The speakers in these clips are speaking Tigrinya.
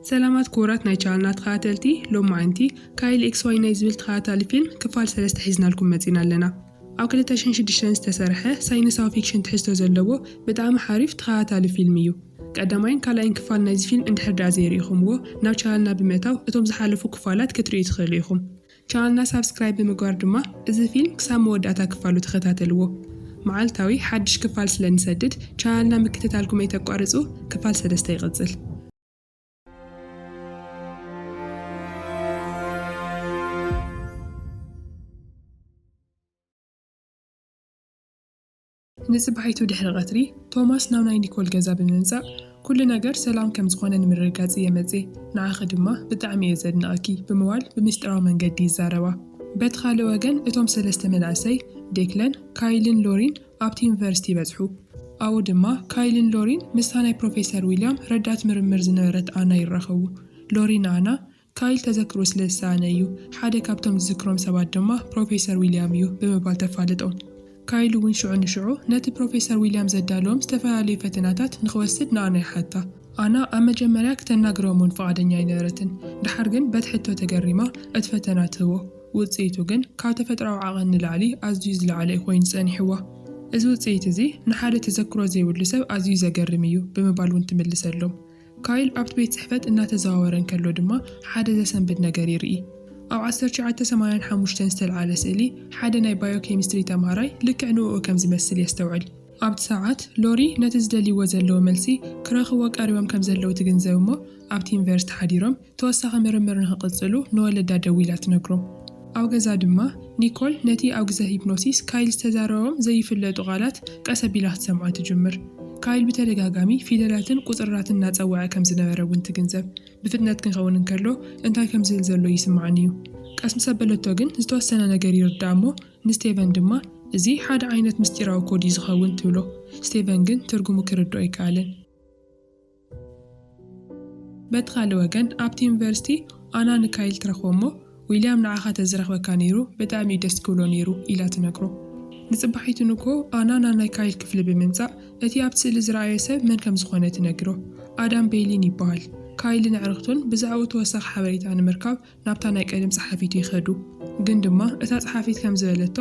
ሰላማት ክቡራት ናይ ቻናልና ተኸታተልቲ ሎማዕንቲ ካይል ኤክስ ዋይ ናይ ዝብል ተኸታታሊ ፊልም ክፋል ሰለስተ ሒዝናልኩም መፂና ኣለና ኣብ ክልተ ሽሕን ሽዱሽተን ዝተሰርሐ ሳይነሳዊ ፊክሽን ትሕዝቶ ዘለዎ ብጣዕሚ ሓሪፍ ተኸታታሊ ፊልም እዩ ቀዳማይን ካልኣይን ክፋል ናይዚ ፊልም እንድሕር ደኣ ዘይርኢኹምዎ ናብ ቻናልና ብምእታው እቶም ዝሓለፉ ክፋላት ክትርእዩ ትኽእሉ ኢኹም ቻናልና ሳብስክራይብ ብምግባር ድማ እዚ ፊልም ክሳብ መወዳእታ ክፋሉ ተኸታተልዎ። መዓልታዊ ሓድሽ ክፋል ስለ ንሰድድ ቻናልና ምክትታልኩም ኣይተቋርጹ ክፋል ሰለስተ ይቕጽል። ንጽባሒቱ ድሕሪ ቐትሪ፣ ቶማስ ናብ ናይ ኒኮል ገዛ ብምምጻእ፣ ኵሉ ነገር ሰላም ከም ዝዀነ ንምርግጋጽ እየ መጺኤ፣ ንዓኺ ድማ ብጣዕሚ እየ ዘድንቐኪ፣ ብምባል ብምስጢራዊ መንገዲ ይዛረባ። በቲ ኻልእ ወገን፣ እቶም ሰለስተ መናእሰይ፣ ዴክለን፣ ካይልን ሎሪን፣ ኣብቲ ዩኒቨርሲቲ ይበጽሑ። ኣብኡ ድማ፣ ካይልን ሎሪን ምስታ ናይ ፕሮፌሰር ዊልያም ረዳት ምርምር ዝነበረት ኣና ይራኸቡ። ሎሪ ንኣና፣ ካይል ተዘክሮ ስለ ዝሰኣነ እዩ፣ ሓደ ካብቶም ዝዝክሮም ሰባት ድማ ፕሮፌሰር ዊልያም እዩ ብምባል ተፋልጦ። ካይል እውን ሽዑ ንሽዑ ነቲ ፕሮፌሰር ዊልያም ዘዳለዎም ዝተፈላለዩ ፈተናታት ንኽወስድ ንኣና ይሓታ። ኣና ኣብ መጀመርያ ክተናግሮም እውን ፍቓደኛ ኣይነበረትን፣ ደሓር ግን በቲ ሕቶ ተገሪማ እቲ ፈተና ትህቦ። ውጽኢቱ ግን ካብ ተፈጥሮኣዊ ዓቐን ንላዕሊ ኣዝዩ ዝለዓለ እዩ ኰይኑ ጸኒሕዋ። እዚ ውጽኢት እዚ ንሓደ ተዘክሮ ዘይብሉ ሰብ ኣዝዩ ዘገርም እዩ ብምባል እውን ትምልሰሎም። ካይል ኣብቲ ቤት ጽሕፈት እናተዘዋወረ እንከሎ ድማ ሓደ ዘሰንብድ ነገር ይርኢ። ኣብ ዓሰርተ ትሽዓተ ሰማንያን ሓሙሽተን ዝተልዓለ ስእሊ ሓደ ናይ ባዮኬሚስትሪ ተማሃራይ ልክዕ ንእኡ ከም ዝመስል የስተውዕል። ኣብቲ ሰዓት፣ ሎሪ ነቲ ዝደልይዎ ዘለዉ መልሲ ክረኽብዎ ቀሪቦም ከም ዘለዉ ትግንዘብ እሞ ኣብቲ ዩኒቨርሲቲ ሓዲሮም ተወሳኺ ምርምር ንኽቕጽሉ ንወለዳ ደዊላ ትነግሮ። ኣብ ገዛ ድማ፣ ኒኮል ነቲ ኣብ ግዘ ሂፕኖሲስ ካይል ዝተዛረቦም ዘይፍለጡ ቃላት ቀስ ኣቢላ ክትሰምዖ ትጅምር። ካይል ብተደጋጋሚ ፊደላትን ቁጽርራትን እናጸወዐ ከም ዝነበረ እውን ትግንዘብ። ብፍጥነት ክንከውን እንከሎ እንታይ ከም ዝል ዘሎ ይስምዓኒ እዩ። ቀስ ምስ ኣበለቶ ግን ዝተወሰነ ነገር ይርድኣ እሞ ንስቴቨን ድማ፣ እዚ ሓደ ዓይነት ምስጢራዊ ኮድ እዩ ዝኸውን ትብሎ። ስቴቨን ግን ትርጉሙ ክርድኦ ኣይከኣለን። በቲ ካልእ ወገን ኣብቲ ዩኒቨርሲቲ ኣና ንካይል ትረኽቦ እሞ ዊልያም ንዓኻ ተዝረኽበካ ነይሩ ብጣዕሚ እዩ ደስ ክብሎ ነይሩ ኢላ ትነግሮ። ንጽባሒቱ ንግሆ ኣና ናብ ናይ ካይል ክፍሊ ብምምጻእ እቲ ኣብቲ ስእሊ ዝረኣዮ ሰብ መን ከም ዝኾነ ትነግሮ። ኣዳም ቤይሊን ይበሃል። ካይልን ኣዕርኽቱን ብዛዕብኡ ተወሳኺ ሓበሬታ ንምርካብ ናብታ ናይ ቀደም ጸሓፊቱ ይኸዱ። ግን ድማ እታ ጸሓፊት ከም ዝበለቶ፣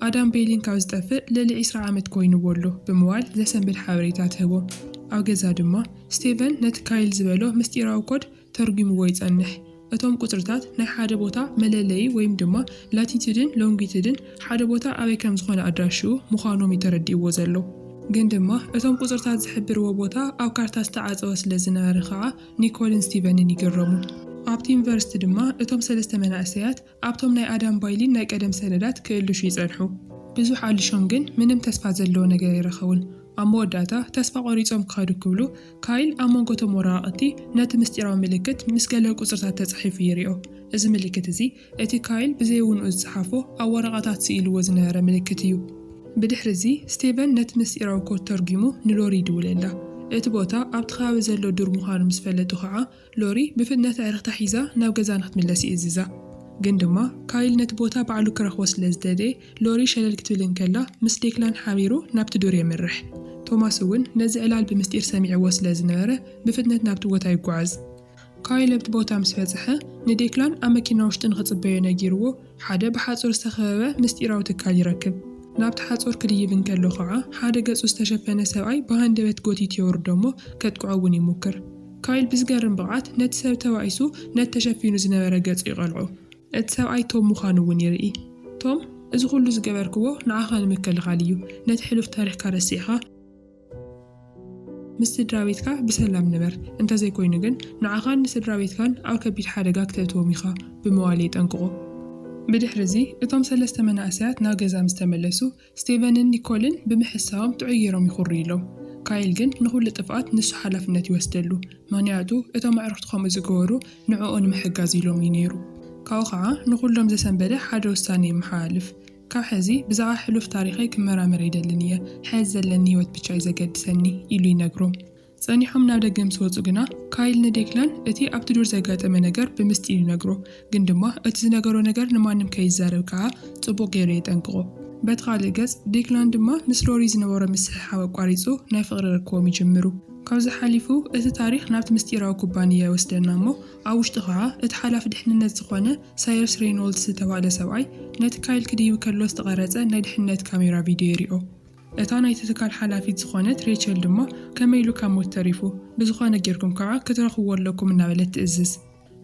ኣዳም ቤሊን ካብ ዝጠፍእ ልዕሊ ዕስራ ዓመት ኰይኑዎ ኣሎ ብምባል ዘሰንብድ ሓበሬታ ትህቦም። ኣብ ገዛ ድማ፣ ስቴቨን ነቲ ካይል ዝበሎ ምስጢራዊ ኮድ ተርጒሙዎ ይጸንሕ። እቶም ቍጽርታት ናይ ሓደ ቦታ መለለዪ ወይም ድማ ላቲቱድን ሎንጊቱድን ሓደ ቦታ ኣበይ ከም ዝዀነ ኣድራሽኡ ምዃኖም እዩ ተረዲኡዎ ዘሎ። ግን ድማ እቶም ቍጽርታት ዝሕብርዎ ቦታ ኣብ ካርታ ዝተዓጸወ ስለ ዝነበረ ኸኣ፣ ኒኮልን ስቲቨንን ይግረሙ። ኣብቲ ዩኒቨርሲቲ ድማ እቶም ሰለስተ መናእሰያት ኣብቶም ናይ ኣዳም ባይሊን ናይ ቀደም ሰነዳት ክእልሹ ይጸንሑ። ብዙሕ ኣሊሾም ግን ምንም ተስፋ ዘለዎ ነገር ኣይረኸቡን። ኣብ መወዳእታ ተስፋ ቆሪጾም ክኸዱ ክብሉ፣ ካይል ኣብ መንጎ እቶም ወረቓቕቲ ነቲ ምስጢራዊ ምልክት ምስ ገለ ቁጽርታት ተጻሒፉ ይሪኦ። እዚ ምልክት እዚ እቲ ካይል ብዘይውንኡ ዝጸሓፎ ኣብ ወረቐታት ስኢሉዎ ዝነበረ ምልክት እዩ። ብድሕሪ እዚ፣ ስቴቨን ነቲ ምስጢራዊ ኮድ ተርጒሙ ንሎሪ ይድውለላ። እቲ ቦታ ኣብቲ ከባቢ ዘሎ ዱር ምዃኑ ምስ ፈለጡ ኸኣ፣ ሎሪ ብፍጥነት ኣዕርኽታ ሒዛ ናብ ገዛ ንኽትምለስ ይእዝዛ። ግን ድማ፣ ካይል ነቲ ቦታ ባዕሉ ክረኽቦ ስለ ዝደለየ፣ ሎሪ ሸለል ክትብል እንከላ ምስ ዴክላን ሓቢሩ ናብቲ ዱር የምርሕ። ቶማስ እውን ነዚ ዕላል ብምስጢር ሰሚዕዎ ስለ ዝነበረ ብፍጥነት ናብቲ ቦታ ይጓዓዝ። ካይል ኣብቲ ቦታ ምስ በጽሐ፣ ንዴክላን ኣብ መኪና ውሽጢ ንኽጽበዮ ነጊርዎ፣ ሓደ ብሓጹር ዝተኸበበ ምስጢራዊ ትካል ይረክብ። ናብቲ ሓጹር ክድይብ እንከሎ ኸኣ፣ ሓደ ገጹ ዝተሸፈነ ሰብኣይ ብሃንደበት ጎቲቱ የውርዶ እሞ ከጥቅዖ እውን ይሙክር። ካይል ብዝገርም ብቕዓት ነቲ ሰብ ተባኢሱ ነቲ ተሸፊኑ ዝነበረ ገጹ ይቐልዖ። እቲ ሰብኣይ ቶም ምዃኑ እውን ይርኢ። ቶም፣ እዚ ኹሉ ዝገበርክዎ ንዓኻ ንምክልኻል እዩ፣ ነቲ ሕሉፍ ታሪኽካ ረሲዕኻ፣ ምስ ስድራቤትካ ብሰላም ንበር፣ እንተዘይኮይኑ ግን ንዓኻን ንስድራቤትካን ኣብ ከቢድ ሓደጋ ክተእትዎም ኢኻ ብምባል የጠንቅቑ። ብድሕሪ'ዚ እቶም ሰለስተ መናእሰያት ናብ ገዛ ምስ ተመለሱ፣ ስቴቨንን ኒኮልን ብምሕሳቦም ጥዑይ ገይሮም ይኹርዩ ኣለው። ካይል ግን ንኹሉ ጥፍኣት ንሱ ሓላፍነት ይወስደሉ፣ ምኽንያቱ እቶም ኣዕሩኽቱ ከምኡ ዝገበሩ ንዕኡ ንምሕጋዝ ኢሎም'ዩ ነይሩ። ካብኡ ኸኣ ንኹሎም ዘሰንበደ ሓደ ውሳነ የመሓላልፍ። ካብ ሕዚ ብዛዕባ ሕሉፍ ታሪኸይ ክመራመር ኣይደልን እየ፣ ሕዚ ዘለኒ ህይወት ብቻ እዩ ዘገድሰኒ ኢሉ ይነግሮም። ጸኒሖም ናብ ደገ ምስ ወጹ ግና፣ ካይል ንዴክላን እቲ ኣብቲ ዱር ዘጋጠመ ነገር ብምስጢር ይነግሮ፣ ግን ድማ እቲ ዝነገሮ ነገር ንማንም ከይዛረብ ከኣ ጽቡቕ ገይሩ የጠንቅቖ። በቲ ካልእ ገጽ፣ ዴክላን ድማ ምስ ሮሪ ዝነበሮ ምስሕሓብ ኣቋሪጹ ናይ ፍቕሪ ርክቦም ይጅምሩ። ካብዚ ሓሊፉ እቲ ታሪኽ ናብቲ ምስጢራዊ ኩባንያ ይወስደና እሞ ኣብ ውሽጡ ከኣ እቲ ሓላፊ ድሕንነት ዝኾነ ሳየርስ ሬይኖልድስ ዝተባህለ ሰብኣይ ነቲ ካይል ክድይብ ከሎ ዝተቐረጸ ናይ ድሕነት ካሜራ ቪድዮ ይሪኦ። እታ ናይቲ ትካል ሓላፊት ዝኾነት ሬቸል ድማ ከመይ ኢሉ ካብ ሞት ተሪፉ፣ ብዝኾነ ጌርኩም ከኣ ክትረኽብዎ ኣለኩም እናበለት ትእዝዝ።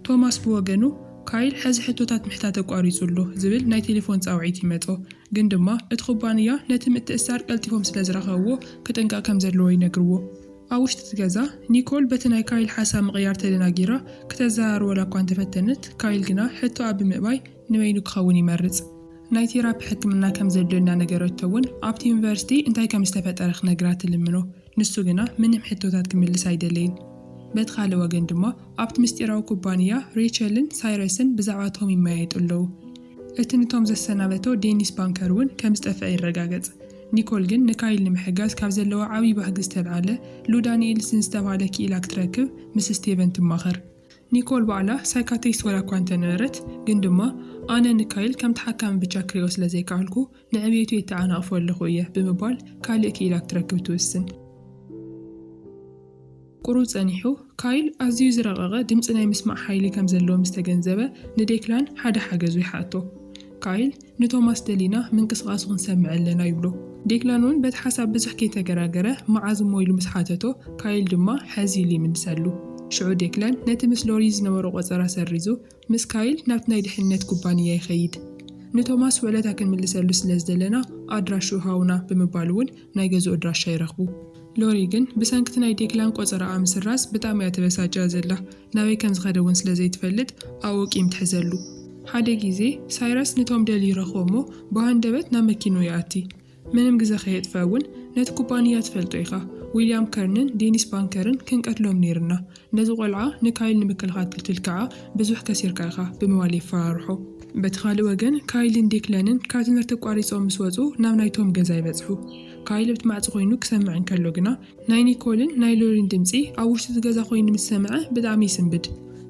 ቶማስ ብወገኑ፣ ካይል ሕዚ ሕቶታት ምሕታት ኣቋሪጹ ኣሎ ዝብል ናይ ቴሌፎን ጻውዒት ይመጾ፣ ግን ድማ እቲ ኩባንያ ነቲ ምትእስሳር ቀልጢፎም ስለዝረኸብዎ ክጥንቀቕ ከምዘለዎ ይነግርዎ። ኣብ ውሽጢ እቲ ገዛ፣ ኒኮል በቲ ናይ ካይል ሓሳብ ምቕያር ተደናጊራ ክተዘራርበላ እኳ እንተ ፈተነት፣ ካይል ግና ሕቶኣ ብምእባይ ንበይኑ ክኸውን ይመርጽ። ናይ ቴራፒ ሕክምና ከም ዘድልዮ እናነገረቶ እውን ኣብቲ ዩኒቨርሲቲ እንታይ ከም ዝተፈጠረ ክነግራ ትልምኖ። ንሱ ግና ምንም ሕቶታት ክምልስ ኣይደለይን። በቲ ካልእ ወገን ድማ ኣብቲ ምስጢራዊ ኩባንያ ሬቸልን ሳይረስን ብዛዕባ ቶም ይመያየጡ ኣለዉ። እቲ ንቶም ዘሰናበቶ ዴኒስ ባንከር እውን ከም ዝጠፍአ ይረጋገጽ። ኒኮል ግን ንካይል ንምሕጋዝ ካብ ዘለዋ ዓብዪ ባህጊ ዝተልዓለ ሉ ዳኒኤልስ ንዝተብሃለ ክኢላ ክትረክብ ምስ ስቴቨን ትማኸር። ኒኮል ባዕላ ሳይካትሪስት ዋላ'ኳ እንተነበረት፣ ግን ድማ ኣነ ንካይል ከም ተሓካሚ ብቻ ክሪኦ ስለ ዘይከኣልኩ ንዕብየቱ የተዓናቕፎ ኣለኹ እየ ብምባል ካልእ ክኢላ ክትረክብ ትውስን። ቍሩብ ጸኒሑ፣ ካይል ኣዝዩ ዝረቐቐ ድምጺ ናይ ምስማዕ ሓይሊ ከም ዘለዎ ምስ ተገንዘበ፣ ንዴክላን ሓደ ሓገዙ ይሓቶ። ካይል ንቶማስ ደሊና ምንቅስቓሱ ክንሰምዕ ኣለና ይብሎ። ዴክላን እውን በቲ ሓሳብ ብዙሕ ከይተገራገረ መዓዝ እሞ ኢሉ ምስ ሓተቶ፣ ካይል ድማ ሕዚ ኢሉ ይምልሰሉ። ሽዑ ዴክላን ነቲ ምስ ሎሪ ዝነበሮ ቈጸራ ሰሪዙ ምስ ካይል ናብቲ ናይ ድሕንነት ኩባንያ ይኸይድ። ንቶማስ ውዕለታ ክንምልሰሉ ስለ ዝደለና ኣድራሽኡ ሃቡና ብምባል እውን ናይ ገዝኡ ኣድራሻ ይረኽቡ። ሎሪ ግን ብሰንኪ'ቲ ናይ ዴክላን ቆጸራኣ ምስራዝ ብጣእሚ እያ ተበሳጭያ ዘላ። ናበይ ከም ዝኸደ እውን ስለ ዘይትፈልጥ ኣብኡ ቂም ትሕዘሉ። ሓደ ግዜ ሳይረስ ንቶም ደልዩ ይረኽቦ እሞ ብሃንደበት ናብ መኪንኡ ይኣቲ። ምንም ግዘ ከየጥፈ እውን ነቲ ኩባንያ ትፈልጦ ኢኻ ዊልያም ከርንን ዴኒስ ባንከርን ክንቀትሎም ነይርና ነዚ ቆልዓ ንካይል ንምክልኻል ክትል ካዓ ብዙሕ ከሲርካ ኢኻ ብምባል የፈራርሖ። በቲ ካልእ ወገን ካይልን ዴክለንን ካብ ትምህርቲ ኣቋሪፆም ምስ ወፁ ናብ ናይ ቶም ገዛ ይበፅሑ ካይል ኣብቲ ማዕፆ ኮይኑ ክሰምዕ እንከሎ ግና ናይ ኒኮልን ናይ ሎሪን ድምፂ ኣብ ውሽጢ እቲ ገዛ ኮይኑ ምስ ሰምዐ ብጣዕሚ ይስንብድ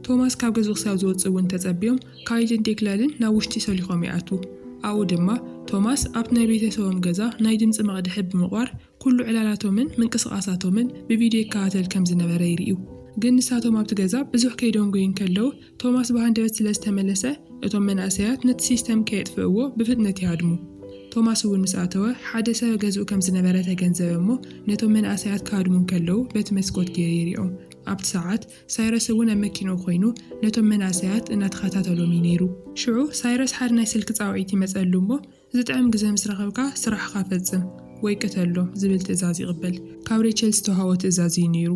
ቶማስ ካብ ገዝኡ ክሳብ ዝወፅእ እውን ተፀብዮም ካይልን ዴክላንን ናብ ውሽጢ ሰሊኾም ይኣትዉ። ኣብኡ ድማ ቶማስ ኣብቲ ናይ ቤተሰቦም ገዛ ናይ ድምጺ መቕድሒ ብምቕባር ኩሉ ዕላላቶምን ምንቅስቓሳቶምን ብቪድዮ ይከታተል ከም ዝነበረ ይርእዩ። ግን ንሳቶም ኣብቲ ገዛ ብዙሕ ከይደንጎዩ እንከለዉ ቶማስ ብሃንደበት ስለ ዝተመለሰ እቶም መንእሰያት ነቲ ሲስተም ከየጥፍእዎ ብፍጥነት ይሃድሙ። ቶማስ እውን ምስ ኣተወ ሓደ ሰብ ገዝኡ ከም ዝነበረ ተገንዘበ እሞ ነቶም መንእሰያት ክሃድሙ እንከለዉ በቲ መስኮት ገይሩ ይሪኦም። ኣብቲ ሰዓት ሳይረስ እውን ኣብ መኪንኡ ኮይኑ ነቶም መናእሰያት እናተኸታተሎም እዩ ነይሩ። ሽዑ ሳይረስ ሓደ ናይ ስልኪ ጻውዒት ይመጸሉ እሞ ዝጥዕም ግዘ ምስ ረኸብካ ስራሕኻ ፈጽም ወይ ቅተሎም ዝብል ትእዛዝ ይቕበል። ካብ ሬቸል ዝተውሃቦ ትእዛዝ እዩ ነይሩ።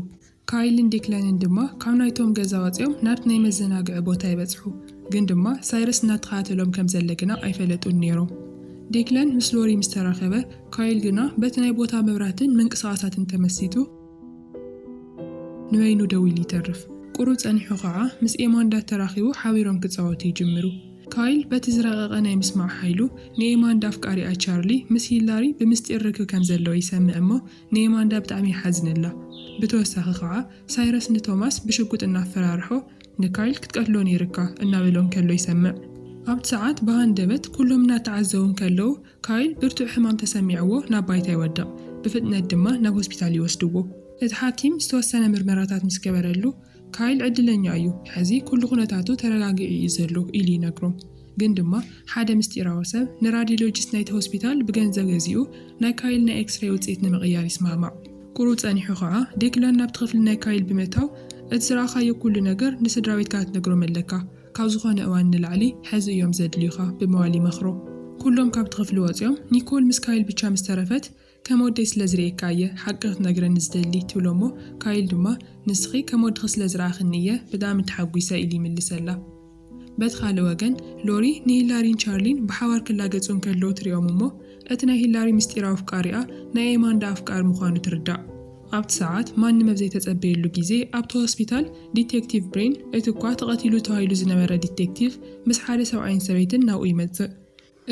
ካይልን ዴክላንን ድማ ካብ ናይቶም ገዛ ወጺኦም ናብቲ ናይ መዘናግዒ ቦታ ይበጽሑ፣ ግን ድማ ሳይረስ እናተኸታተሎም ከም ዘለ ግና ኣይፈለጡን ነይሮም። ዴክላን ምስ ሎሪ ምስ ተራኸበ፣ ካይል ግና በቲ ናይ ቦታ መብራህትን ምንቅስቓሳትን ተመሲጡ፣ ንበይኑ ደው ኢሉ ይተርፍ። ቁሩ ጸኒሑ ኸኣ ምስ ኤማንዳ ተራኺቡ ሓቢሮም ክጻወቱ ይጅምሩ። ካይል በቲ ዝረቐቐ ናይ ምስማዕ ሓይሉ ንኤማንዳ ኣፍቃሪኣ ቻርሊ ምስ ሂላሪ ብምስጢር ርክብ ከም ዘለዎ ይሰምዕ እሞ ንኤማንዳ ብጣዕሚ ይሓዝነላ። ብተወሳኺ ኸኣ ሳይረስ ንቶማስ ብሽጉጥ እናፈራርሖ ንካይል ክትቀትሎ ነይርካ እናበሎ እንከሎ ይሰምዕ። ኣብቲ ሰዓት ብሃንደበት ኩሎም እናተዓዘቡ እንከለዉ ካይል ብርቱዕ ሕማም ተሰሚዕዎ ናብ ባይታ ይወድቕ፣ ብፍጥነት ድማ ናብ ሆስፒታል ይወስድዎ። እቲ ሓኪም ዝተወሰነ ምርመራታት ምስ ገበረሉ፣ ካይል ዕድለኛ እዩ፣ ሕዚ ኵሉ ኵነታቱ ተረጋጊዑ እዩ ዘሎ ኢሉ ይነግሮም። ግን ድማ ሓደ ምስጢራዊ ሰብ ንራድዮሎጂስት ናይቲ ሆስፒታል ብገንዘብ ገዚኡ ናይ ካይል ናይ ኤክስሬይ ውጽኢት ንምቕያር ይስማዕማዕ። ቍሩብ ጸኒሑ ኸኣ ዴክላን ናብቲ ክፍሊ ናይ ካይል ብምእታው፣ እቲ ዝረኣኻዮ ኵሉ ነገር ንስድራቤትካ ክትነግሮም ኣለካ፣ ካብ ዝኾነ እዋን ንላዕሊ ሐዚ እዮም ዘድልዩኻ ብምባል ይመኽሮ። ኩሎም ካብቲ ክፍሊ ወፂኦም፣ ኒኮል ምስ ካይል ብቻ ምስ ተረፈት ከም ወደይ ስለ ዝርእየካ እየ ሓቂ ክትነግረኒ ዝደሊ ትብሎ እሞ ካይል ድማ ንስኺ ከም ወድኺ ስለ ዝረኣኽኒ እየ ብጣዕሚ ተሓጒሰ ኢሉ ይምልሰላ። በቲ ካልእ ወገን ሎሪ ንሂላሪን ቻርሊን ብሓባር ክላገፁ እንከለዉ ትሪኦም እሞ እቲ ናይ ሂላሪ ምስጢራዊ ኣፍቃሪኣ ናይ ኤማንዳ ኣፍቃሪ ምዃኑ ትርዳእ። ኣብቲ ሰዓት፣ ማንም ኣብ ዘይተጸበየሉ ግዜ፣ ኣብቲ ሆስፒታል፣ ዲቴክቲቭ ብሬን፣ እቲ'ኳ ተቐቲሉ ተባሂሉ ዝነበረ ዲቴክቲቭ፣ ምስ ሓደ ሰብኣይን ሰበይትን ናብኡ ይመጽእ።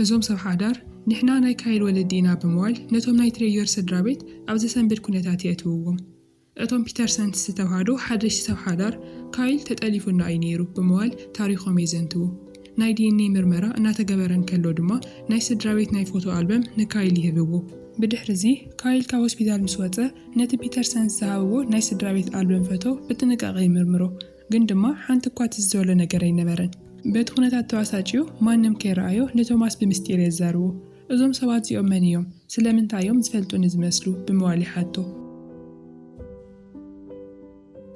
እዞም ሰብ ሓዳር፣ ንሕና ናይ ካይል ወለዲ ኢና ብምባል፣ ነቶም ናይ ትሬዮር ስድራቤት ኣብ ዘሰንብድ ኵነታት የእትውዎም። እቶም ፒተርሰንስ ዝተባህሉ ሓደሽቲ ሰብ ሓዳር፣ ካይል ተጠሊፉና እዩ ነይሩ ብምባል ታሪኾም የዘንትዉ። ናይ ዲኤንኤ ምርመራ እናተገበረ እንከሎ ድማ ናይ ስድራቤት ናይ ፎቶ ኣልበም ንካይል ይህብዎ። ብድሕሪ'ዚ ካይል ካብ ሆስፒታል ምስ ወጸ፣ ነቲ ፒተርሰንስ ዝሃብዎ ናይ ስድራቤት ኣልበም ፈቶ ብጥንቃቐ ይምርምሮ። ግን ድማ ሓንቲ እኳ ትዝ ዝበሎ ነገር ኣይነበረን። በቲ ኩነታት ተባሳጭዩ ማንም ከይረኣዮ ንቶማስ ብምስጢር የዛርቦ። እዞም ሰባት እዚኦም መን እዮም? ስለምንታይ እዮም ዝፈልጡኒ ዝመስሉ? ብምባል ይሓቶ።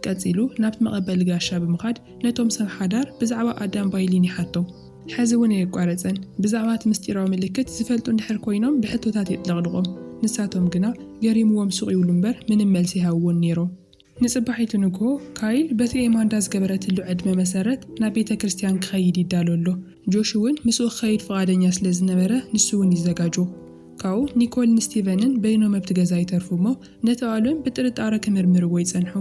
ቀጺሉ ናብቲ መቐበሊ ጋሻ ብምኻድ ነቶም ሰብ ሓዳር ብዛዕባ ኣዳም ባይሊን ይሓቶም። ሕዚ እውን ኣየቋረጸን። ብዛዕባ እቲ ምስጢራዊ ምልክት ዝፈልጡ እንድሕር ኮይኖም ብሕቶታት የጥለቕልቖም። ንሳቶም ግና ገሪሙዎም ሱቕ ይብሉ እምበር ምንም መልሲ ኣይሃብዎን ነይሮም። ንጽባሒቱ ንግሆ ካይል በቲ ኤማንዳ ዝገበረትሉ ዕድመ መሰረት ናብ ቤተ ክርስትያን ክኸይድ ይዳሎ ኣሎ። ጆሽ እውን ምስኡ ክኸይድ ፍቓደኛ ስለ ዝነበረ ንሱ እውን ይዘጋጆ። ካብኡ ኒኮልን ስቲቨንን በይኖም ኣብቲ ገዛ ይተርፉ እሞ ነቲ ኣልበም ብጥርጣረ ክምርምርዎ ይጸንሑ።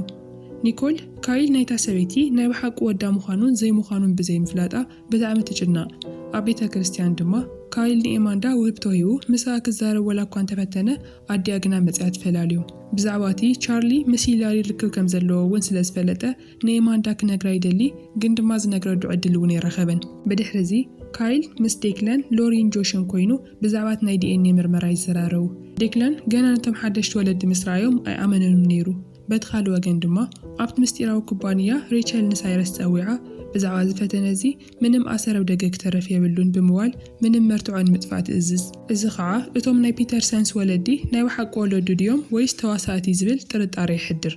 ኒኮል፣ ካይል ናይታ ሰበይቲ ናይ ብሓቂ ወዳ ምዃኑን ዘይምዃኑን ብዘይምፍላጣ ብጣዕሚ ትጭነቕ። ኣብ ቤተ ክርስትያን ድማ ካይል ንኤማንዳ ውህብቶ ሂቡ ምስኣ ክዛረብ ዋላ እኳ እንተፈተነ ኣዲኣ ግና መጺኣ ትፈላልዮም። ብዛዕባ እቲ ቻርሊ ምስ ሂላሪ ርክብ ከም ዘለዎ እውን ስለ ዝፈለጠ ንኤማንዳ ክነግራ ይደሊ፣ ግን ድማ ዝነግረሉ ዕድል እውን ኣይረኸበን። ብድሕርዚ፣ ካይል ምስ ዴክለን፣ ሎሪን ጆሽን ኰይኑ ብዛዕባ'ቲ ናይ ዲኤንኤ ምርመራ ይዘራረቡ። ዴክለን ገና ነቶም ሓደሽቲ ወለዲ ምስ ረኣዮም ኣይኣመነሉን ነይሩ። በቲ ካልእ ወገን ድማ፣ ኣብቲ ምስጢራዊ ኩባንያ ሬቸል ንሳይረስ ጸዊዓ ብዛዕባ'ዚ ፈተነ እዚ ምንም ኣሰር ኣብ ደገ ክተርፍ የብሉን ብምባል ምንም መርትዖ ንምጥፋእ ትእዝዝ። እዚ ኸኣ እቶም ናይ ፒተርሰንስ ወለዲ ናይ ብሓቂ ወለዱ ድዮም ወይስ ተዋሳእቲ ዝብል ጥርጣረ የሕድር።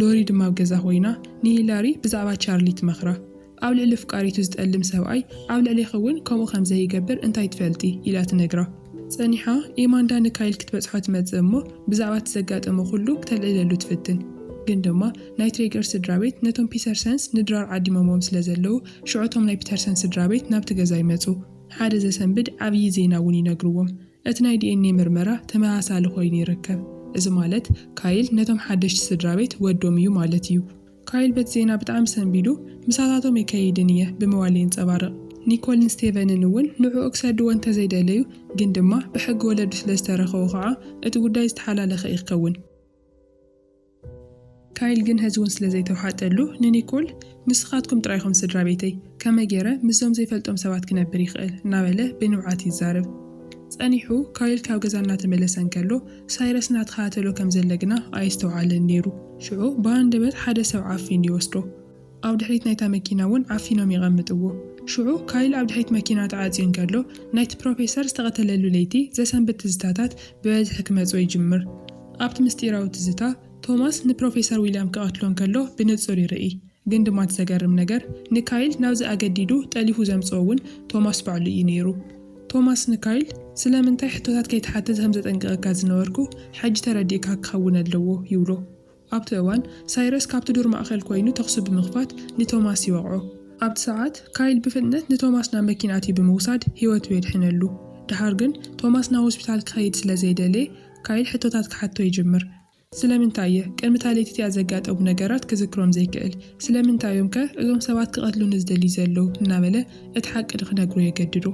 ሎሪ ድማ ኣብ ገዛ ኮይና ንሂላሪ ብዛዕባ ቻርሊ ትመኽራ። ኣብ ልዕሊ ኣፍቃሪቱ ዝጠልም ሰብኣይ ኣብ ልዕሌኺ እውን ከምኡ ከም ዘይገብር እንታይ ትፈልጢ? ኢላ ትነግራ። ጸኒሓ ኤማንዳ ንካይል ክትበጽሖ ትመጽእ እሞ ብዛዕባ እቲ ዘጋጠመ ኩሉ ክተልዕለሉ ትፍትን። ግን ድማ ናይ ትሬገር ስድራቤት ነቶም ፒተርሰንስ ንድራር ዓዲሞምዎም ስለ ዘለዉ ሽዑ እቶም ናይ ፒተርሰን ስድራቤት ናብቲ ገዛ ይመጹ። ሓደ ዘሰንብድ ዓብዪ ዜና እውን ይነግርዎም። እቲ ናይ ዲኤንኤ ምርመራ ተመሳሳሊ ኮይኑ ይርከብ፣ እዚ ማለት ካይል ነቶም ሓደሽቲ ስድራቤት ወዶም እዩ ማለት እዩ። ካይል በቲ ዜና ብጣዕሚ ሰንቢዱ፣ ምሳታቶም ኣይከይድን እየ ብምባል የንጸባርቕ። ኒኮልን ስቴቨንን እውን ንዕኡ ክሰድዎ እንተዘይደለዩ ግን ድማ ብሕጊ ወለዱ ስለዝተረከቡ ከኣ እቲ ጉዳይ ዝተሓላለኸ እዩ ክከውን። ካይል ግን ሐዚ ውን ስለ ዘይተውሓጠሉ ንኒኮል ንስኻትኩም ጥራይ ኢኹም ስድራ ቤተይ፣ ከመይ ገይረ ምስዞም ዘይፈልጦም ሰባት ክነብር ይኽእል? እናበለ ብንብዓት ይዛረብ። ጸኒሑ ካይል ካብ ገዛ እናተመለሰ እንከሎ ሳይረስ እናተኸታተሎ ከም ዘለ ግና ኣየስተውዓለን ነይሩ። ሽዑ ብሃንደበት ሓደ ሰብ ዓፊኑ ይወስዶ። ኣብ ድሕሪት ናይታ መኪና እውን ዓፊኖም የቐምጥዎ። ሽዑ ካይል ኣብ ድሕሪት መኪና ተዓጽዩ እንከሎ፣ ናይቲ ፕሮፌሰር ዝተቐተለሉ ለይቲ ዘሰንብድ ትዝታታት ብበዝሒ ክመጽኦ ይጅምር። ኣብቲ ምስጢራዊ ትዝታ፣ ቶማስ ንፕሮፌሰር ዊልያም ክቐትሎ እንከሎ ብንጹር ይርኢ። ግን ድማ እቲ ዘገርም ነገር፣ ንካይል ናብዚ ኣገዲዱ ጠሊፉ ዘምጽኦ እውን ቶማስ ባዕሉ እዩ ነይሩ። ቶማስ ንካይል፣ ስለምንታይ ሕቶታት ከይትሓትት ከም ዘጠንቅቐካ ዝነበርኩ ሕጂ ተረዲእካ ክኸውን ኣለዎ ይብሎ። ኣብቲ እዋን፣ ሳይረስ ካብቲ ዱር ማእከል ኰይኑ ተዅሲ ብምኽፋት ንቶማስ ይወቕዖ። ኣብቲ ሰዓት፣ ካይል ብፍጥነት ንቶማስ ናብ መኪና ኣትዩ ብምውሳድ ህይወቱ የድሕነሉ። ደሓር ግን፣ ቶማስ ናብ ሆስፒታል ክኸይድ ስለ ዘይደለየ፣ ካይል ሕቶታት ክሓቶ ይጅምር። ስለምንታይ እየ ቅድሚ'ታ ለይቲ እቲኣ ዘጋጠሙ ነገራት ክዝክሮም ዘይክእል? ስለምንታይ እዮምከ እዞም ሰባት ክቐትሉኒ ዝደልዩ ዘለዉ? እናበለ እቲ ሓቂ ንኽነግሮ የገድዶ።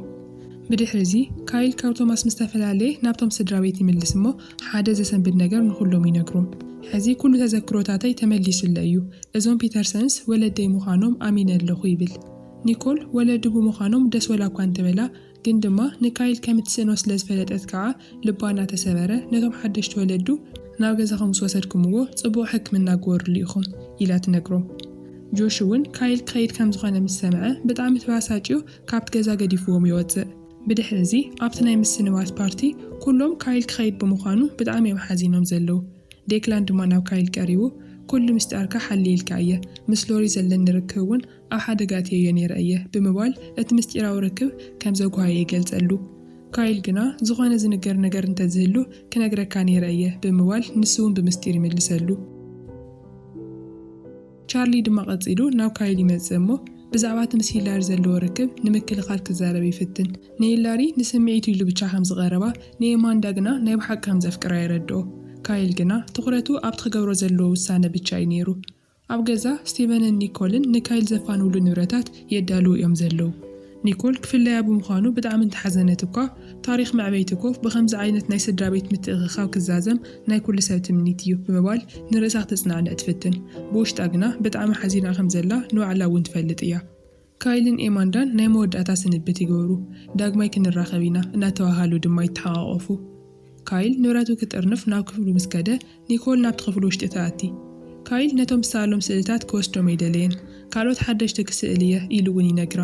ብድሕሪ'ዚ፣ ካይል ካብ ቶማስ ምስ ተፈላለየ ናብቶም ስድራቤት ይምልስ እሞ፣ ሓደ ዘሰንብድ ነገር ንኹሎም ይነግሮም፣ ሕዚ ኩሉ ተዘክሮታተይ ተመሊሱለይ እዩ። እዞም ፒተርሰንስ ወለደይ ምዃኖም ኣሚነ ኣለኹ ይብል። ኒኮል ወለዱ ብምዃኖም ደስ ወላኳ እንተበላ፣ ግን ድማ ንካይል ከም እትስእኖ ስለ ዝፈለጠት ከኣ ልባ እናተሰበረ፣ ነቶም ሓደሽቲ ወለዱ፣ ናብ ገዛኹም ምስ ወሰድኩምዎ ጽቡቕ ሕክምና ግበርሉ ኢኹም፣ ኢላ ትነግሮም። ጆሽ'ውን ካይል ክኸይድ ከም ዝኾነ ምስ ሰምዐ ብጣዕሚ ተበሳጭዩ ካብቲ ገዛ ገዲፉዎም ይወጽእ። ብድሕሪ እዚ ኣብቲ ናይ ምስንባት ፓርቲ ኩሎም ካይል ክኸይድ ብምዃኑ ብጣዕሚ እዮም ሓዚኖም ዘለዉ። ዴክላን ድማ ናብ ካይል ቀሪቡ ኩሉ ምስጢርካ ሓልየልካ እየ፣ ምስ ሎሪ ዘለኒ ርክብ እውን ኣብ ሓደጋ ኣእትየዮ ነይረ እየ ብምባል እቲ ምስጢራዊ ርክብ ከም ዘጉሃየ ይገልጸሉ። ካይል ግና ዝኾነ ዝንገር ነገር እንተዝህሉ ክነግረካ ነይረ እየ ብምባል ንሱ እውን ብምስጢር ይምልሰሉ። ቻርሊ ድማ ቀጺሉ ናብ ካይል ይመጽእ እሞ ብዛዕባ እቲ ምስ ሂላሪ ዘለዎ ርክብ ንምክልኻል ክዛረብ ይፍትን። ንሂላሪ ንስምዒቱ ኢሉ ብቻ ከም ዝቐረባ፣ ንኤማንዳ ግና ናይ ብሓቂ ከም ዘፍቅራ የረድኦ። ካይል ግና ትኹረቱ ኣብቲ ክገብሮ ዘለዎ ውሳነ ብቻ እዩ ነይሩ። ኣብ ገዛ፣ ስቲቨንን ኒኮልን ንካይል ዘፋንውሉ ንብረታት የዳልዉ እዮም ዘለዉ። ኒኮል ክፍለያ ብምዃኑ ብጣዕሚ እንተሓዘነት እኳ፣ ታሪኽ መዕበይቲ ኮፍ ብኸምዚ ዓይነት ናይ ስድራቤት ምትእኽኻብ ክዛዘም ናይ ኩሉ ሰብ ትምኒት እዩ ብምባል ንርእሳ ክተጽናዕንዕ ትፍትን። ብውሽጣ ግና ብጣዕሚ ሓዚና ከም ዘላ ንባዕላ እውን ትፈልጥ እያ። ካይልን ኤማንዳን ናይ መወዳእታ ስንብት ይገብሩ፣ ዳግማይ ክንራኸብ ኢና እናተባህሃሉ ድማ ይተሓቛቖፉ። ካይል ንብረቱ ክጥርንፍ ናብ ክፍሉ ምስ ከደ፣ ኒኮል ናብቲ ክፍሊ ውሽጢ ትኣቲ። ካይል ነቶም ዝሰኣሎም ስእልታት ክወስዶም ኣይደለየን፣ ካልኦት ሓደሽቲ ክስእል እየ ኢሉ እውን ይነግራ።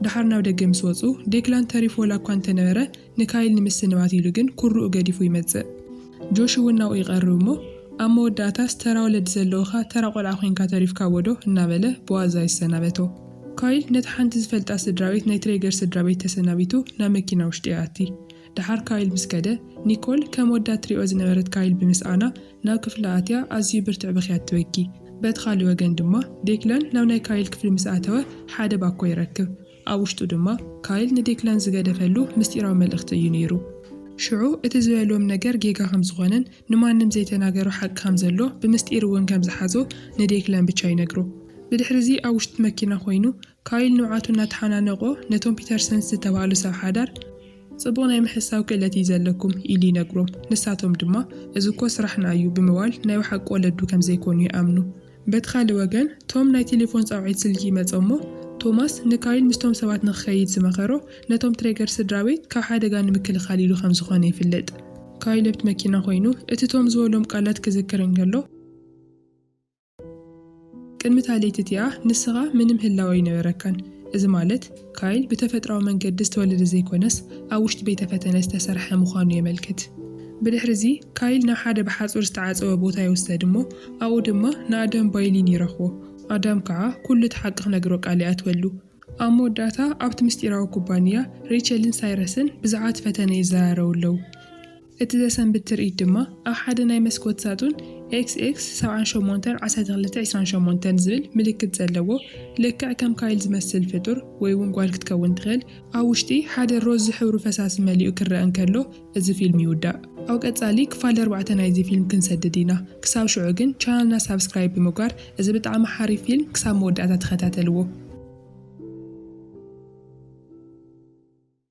ደሓር ናብ ደገ ምስ ወጹ፣ ዴክላን ተሪፉ ዋላ እኳ እንተነበረ፣ ንካይል ንምስንባት ኢሉ ግን ኩርኡ ገዲፉ ይመጽእ። ጆሽ እውን ናብኡ ይቐርብ እሞ፣ ኣብ መወዳእታስ ተራ ወለዲ ዘለውኻ ተራ ቆልዓ ኮይንካ ተሪፍካዎዶ? እናበለ ብዋዛ ይሰናበቶ። ካይል ነታ ሓንቲ ዝፈልጣ ስድራቤት ናይ ትሬገር ስድራቤት ተሰናቢቱ ናብ መኪና ውሽጢ ይኣቲ። ደሓር ካይል ምስ ከደ፣ ኒኮል ከም ወዳ እትሪኦ ዝነበረት ካይል ብምስኣና ናብ ክፍላ ኣትያ ኣዝዩ ብርትዕ ብኽያት ትበኪ። በቲ ካልእ ወገን ድማ ዴክላን ናብ ናይ ካይል ክፍሊ ምስ ኣተወ ሓደ ባኮ ይረክብ። ኣብ ውሽጡ ድማ ካይል ንዴክላን ዝገደፈሉ ምስጢራዊ መልእኽቲ እዩ ነይሩ። ሽዑ እቲ ዝበሎም ነገር ጌጋ ከም ዝኾነን ንማንም ዘይተናገሮ ሓቂ ከም ዘሎ ብምስጢር እውን ከም ዝሓዞ ንዴክላን ብቻ ይነግሮ። ብድሕሪ እዚ ኣብ ውሽጢ መኪና ኮይኑ ካይል ንብዓቱ እናተሓናነቖ ነቶም ፒተርሰንስ ዝተባህሉ ሰብ ሓዳር፣ ጽቡቕ ናይ ምሕሳው ክእለት እዩ ዘለኩም ኢሉ ይነግሮም፣ ንሳቶም ድማ እዚ እኮ ስራሕና እዩ ብምባል ናይ ብሓቂ ወለዱ ከም ዘይኮኑ ይኣምኑ። በቲ ካልእ ወገን ቶም ናይ ቴሌፎን ጻውዒት ስልኪ ይመጾሞ፣ ቶማስ ንካይል ምስቶም ሰባት ንኽከይድ ዝመኸሮ ነቶም ትሬገር ስድራቤት ካብ ሓደጋ ንምክልኻል ኢሉ ከም ዝኾነ ይፍልጥ። ካይል ኣብቲ መኪና ኮይኑ እቲ ቶም ዝበሎም ቃላት ክዝክር እንከሎ፣ ቅድሚ እታ ለይቲ እቲኣ ንስኻ ምንም ህላወ ኣይነበረካን። እዚ ማለት፣ ካይል ብተፈጥሮኣዊ መንገዲ ዝተወለደ ዘይኰነስ ኣብ ውሽጢ ቤተ ፈተነ ዝተሰርሐ ምዃኑ የመልክት። ብድሕርዚ፣ ካይል ናብ ሓደ ብሓጹር ዝተዓጸወ ቦታ ይውሰድ እሞ ኣብኡ ድማ ንኣዳም ባይሊን ይረኽቦ። ኣዳም ከኣ ኵሉ እቲ ሓቂ ክነግሮ ቃል ይኣትወሉ። ኣብ መወዳእታ ኣብቲ ምስጢራዊ ኩባንያ፣ ሬቸልን ሳይረስን ብዛዕባ እቲ ፈተነ ይዘራረቡ ኣለዉ። እቲ ዘሰንብድ ትርኢት ድማ ኣብ ሓደ ናይ መስኮት ሳጡን XX ሰብዓን ሸሞንተን ዓሰርተ ክልተ ዕስራን ሸሞንተን ዝብል ምልክት ዘለዎ ልክዕ ከም ካይል ዝመስል ፍጡር ወይ ውን ጓል ክትከውን ትኽእል ኣብ ውሽጢ ሓደ ሮዝ ዝሕብሩ ፈሳሲ መሊኡ ክረኣ እንከሎ እዚ ፊልም ይውዳእ። ኣብ ቀጻሊ ክፋል ኣርባዕተ ናይዚ ፊልም ክንሰድድ ኢና ክሳብ ሽዑ ግን ቻነልና ሳብስክራይብ ብምግባር እዚ ብጣዕሚ ሓሪፍ ፊልም ክሳብ መወዳእታ ተኸታተልዎ።